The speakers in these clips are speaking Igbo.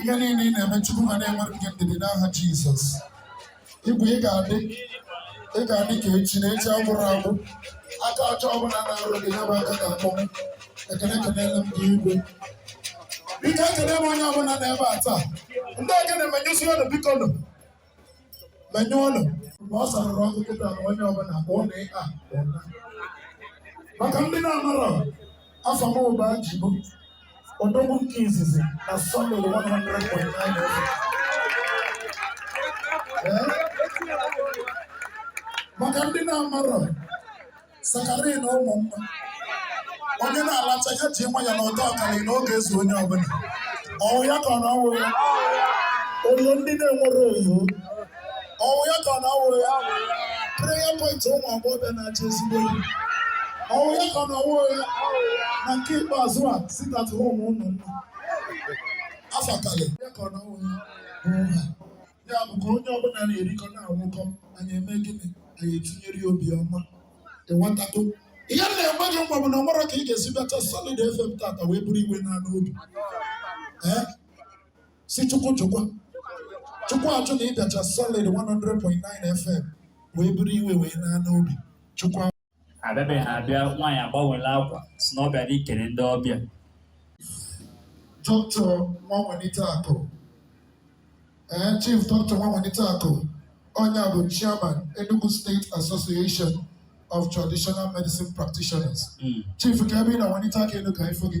ihe niile ị na-eme Chukwu ga na-enwere gị ndidi n'aha Jizọs igwe ị ga-adị ị ga-adị ka echi na echi agwụrọ agwụ aka ọjọọ ọbụla na-arụ gị ya bụ aka ga-akpọnwụ ekele ekelele m gị igwe biko ekele m onye ọbụla nọ ebe a taa ndị ekene menyụsi ọnụ biko nụ menyụọ ọnụ mgbe ọ sarụrụ ọkụ kịta na onye ọbụla ka ọ na-ịkpa ụna maka ndị na-amarọ afa m bụ Ajibo odogwu nke izizi na solid 100.9 maka ndị na-amarọ saccharin ụmụ mma onye na-alacha ya ji nwayọ na ụtọ akarịa na ọ ga-ezu onye ọbụla ọ wụ ya ka ọ na ọ wụ ya ọyị ndị na-enwerọ ọyị ọ wụ ya ka ọ na ọ wụ ya prayer point ụmụ agbọghọbịa na-achọ ezigbo di ọ wụ ya ka ọ na ọ wụ ya na nke ikpeazụ a sit at home ụmụ mma afa akalịa ya ka ọ na ọ wụ ya ya bụ ka onye ọbụla na-erikọ na-anwụkọ anyị eme gịnị anyị etinyere ya obi ọma ịghọtago ihe m na-enwe gị mgbe bụ na o nwerọ ka ị ga-esi bịacha solid fm tata wee buru iwe naa n'obi ee sị chukwu jụkwa chukwu ajụ na ị bịacha solid 100.9 fm wee buru iwe wee naa n'obi chukwu abịabeghị abịa nwaanyị agbanwela akwa sị na ọ bịara ikele ndị ọbịa doctor nwa nwelite akụ ee chief doctor nwa nwelite akụ onye a bụ chairman Enugu State Association of Traditional Medicine Practitioners Mm. chief kee ebe ị nọ welite aka elu ka a fụ gị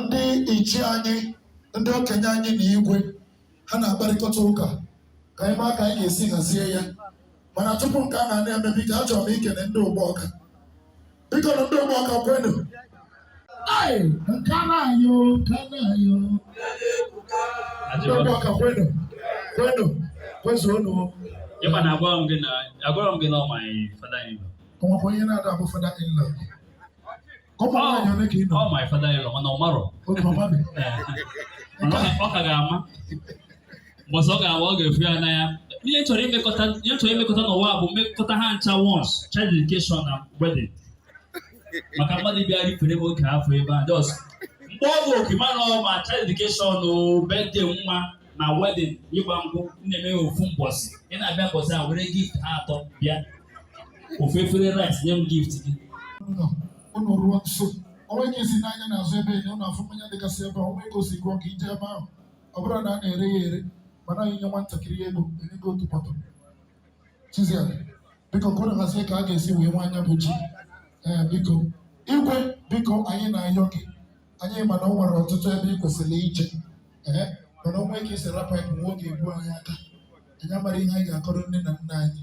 ndị ichie anyị ndị okenye anyị na igwe ha na-akparịkọta ụka ka anyị maa ka anyị ga-esi hazie ya mana tupu nke a na-eme biko achọrọ m ikele ndị Ugbawka biko nụ ndị Ugbawka kwenu Ai, nke a na-ayọ nke a na-ayọ ndị Ugbawka kwenu kwenu kwezuonu Ịma na agwara m gị na agwara m gị na ọ my father in law. o nwekwa onye na-ada abụ father in law Kọpa Ọ- nwaanyị ole ka ị nụ? ọ my father in law mana ọ marọ Otu ọma dị. Ee. Mana ọ ka- ọ ka ga-ama mbọsị ọ ga-awa ọ ga-afụ ya n'anya ihe m chọrọ imekọta ihe m chọrọ imekọta n'ụwa a bụ mmekọta ha ncha once child dedication na wedding maka mmadụ bịara ifere m oge afọ ebe a just mgbe ọ bụ oke mana ọ ma child dedication o birthday nwa na wedding ịgba nkwụ na-eme ya ofu mbọsị ị na-abịa mbọsị a were gift ha atọ bịa ofu efere rice nye m gift gị ụnụ ruo nso onwe gị si n'anya n'azụ ebe enye ụnụ afụ mmanya dịgasị ebe a onwe gị osi gụọ ka ije ebe ahụ ọ bụrụ na a na-ere ya ere mana anyị nye nwatakịrị ego enye gị otu pọtọ chizia biko ka ụnụ hazie ka a ga-esi wee waa nya bụ ji ee biko igwe biko anyị na-ayọ gị anyị mana o nwere ọtụtụ ebe ị kwesịrị ije ee mana o nwe ka i si rapụ anyị nwa oge egbu anyị aka anyị amara ihe anyị ga-akọrọ nne na nna anyị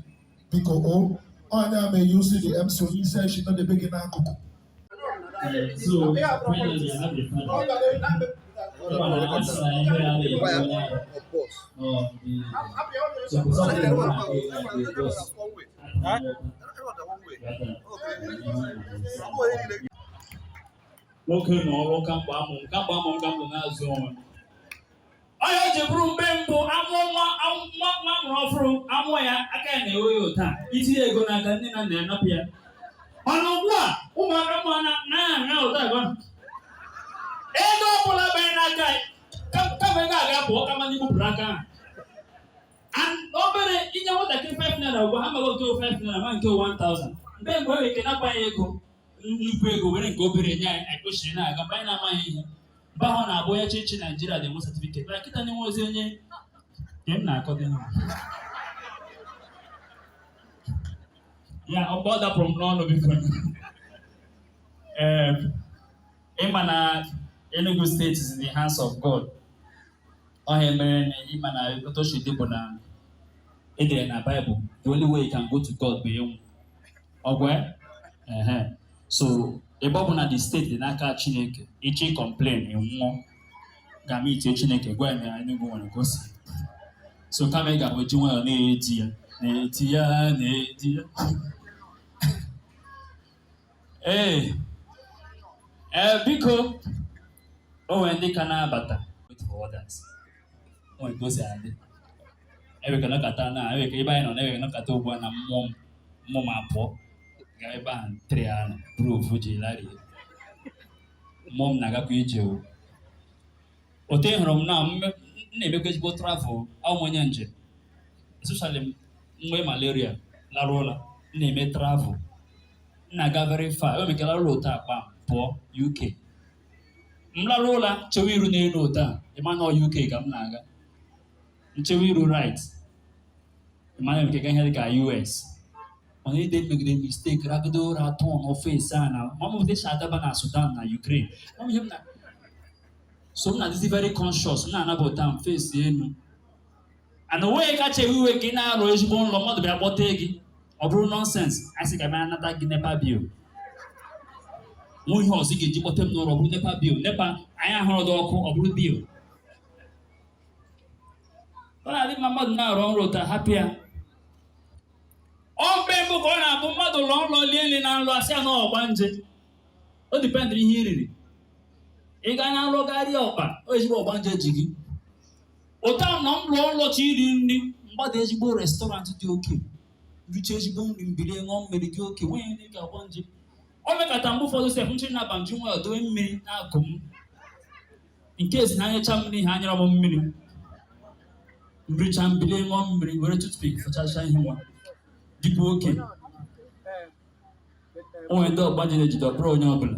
biko o onye ama eyi osi dị MC onye isi anyị sị nọdebe gị n'akụkụ Huh? nwoke na ọrụ kamgbe amụ m kamgbe amụ m ka m nọ na-azụ onwe m ọ ya ji bụrụ mgbe mbụ amụọ nwa am- nwa nwa mụrụ ọhụrụ amụọ ya aka ya na-ewe ya otu a i tinye ego n'aka nne na nna ya napụ ya mana ugbu a ụmụaka mụ na na-ana otu a ebe ahụ ego ọ bụla banye n'aka ya ka- kama ego a ga-apụ ọ ka mma n'igbupụrụ aka ahụ And ọ bụrụ i nye nwatakịrị 5 naira ugbu a ha maghị oke 5 naira ma nke 1000 mgbe mgbe ọ ga-eke nakwa ya ego nnukwu ego were nke obere nye anyị anyị kwesịrị na-aga mgbe anyị na-amaghị ihe mgbe ahụ na-abụ onye chịchị naijiria dị enwe satifiket na kịta na enwerọzi onye nke m na-akọ dị n'ụwa ya ọkpọ dapụrụ m n'ọnụ biko ee ịma na Enugu State is in the hands of God ọ ihe a mere na ịma na otu o si dị bụ na e dere na Bible the only way you can go to God bụ ịnwụ ọ gwụ ehe so ebe ọ bụ na the state dị n'aka chineke i ji complain nwụọ gaa meetie chineke gwa ya na Enugu nwere ka o si so kama ị ga na-eji nwayọ na-edi ya na-edi ya na-edi ya ee ee biko o nwere ndị ka na-abata wait for others o nwere ka o si adị e nwe ka a nọkata na e nwe ka ebe anyị nọ na e nwe ka a nọkata ugbu a na mmụọ m mmụọ m apụọ ga ebe ahụ ntere ya nọ bụrụ ofu ji lari mmụọ m na-agakwa ije o otu ị hụrụ m na m me- m na-emekwa ezigbo travel awụ m onye njem especially m nwe malaria larụ ụla m na-eme travel m na-aga very far o mekela ụla otu a kpam pụọ UK m larụ ụla chewe iru n'elu otu a ị ma na ọ UK ka m na-aga m chewa iru right ma na m ka-aga ihe dị ka US mana any day m megide mistake ragide ụra turn face ana mamụdị si adaba na Sudan na Ukraine Mama ihe m na so m na-adịzi very conscious m na-anabata m face enu and o nweghị ihe kacha ewe iwe ka ị na-arọ ezigbo nlọ mmadụ bịa kpọte gị ọ bụrụ nonsense a sị ka bịa nata gị NEPA bill o nwe ihe ọzọ ị ga-eji kpọte m n'ụra ọ bụrụ NEPA bill NEPA anyị ahụrọdị ọkụ ọ bụrụ bill ọ na-adị mma mmadụ na-arọ nrọ ụta hapụ ya ọ mgbe mbụ ka ọ na-abụ mmadụ lọọ nlọ lie nri na nlọ asị ya na ọgbanje o dipendịrị ihe i riri ị gaa na nlọ ga rie ọkpa o ezigbo ọgbanje ji gị ụta m na m lọọ nlọ chọ iri nri m gbada ezigbo restọrantị dị oke richa ezigbo nri m bili ṅụọ mmiri dị oke nwunye ndị ọgbanje o mekata mgbe ụfọdụ sef nchiri na banju nwa dowe mmiri na-agụ m nke esi na anyecha m nri ha anyerọ m mmiri m richa m bili ṅụọ mmiri were tutpik fụchacha ihe nwa dịkwa oke o nwere ndị ọgbanje na-ejide ọ bụrọ onye ọbụla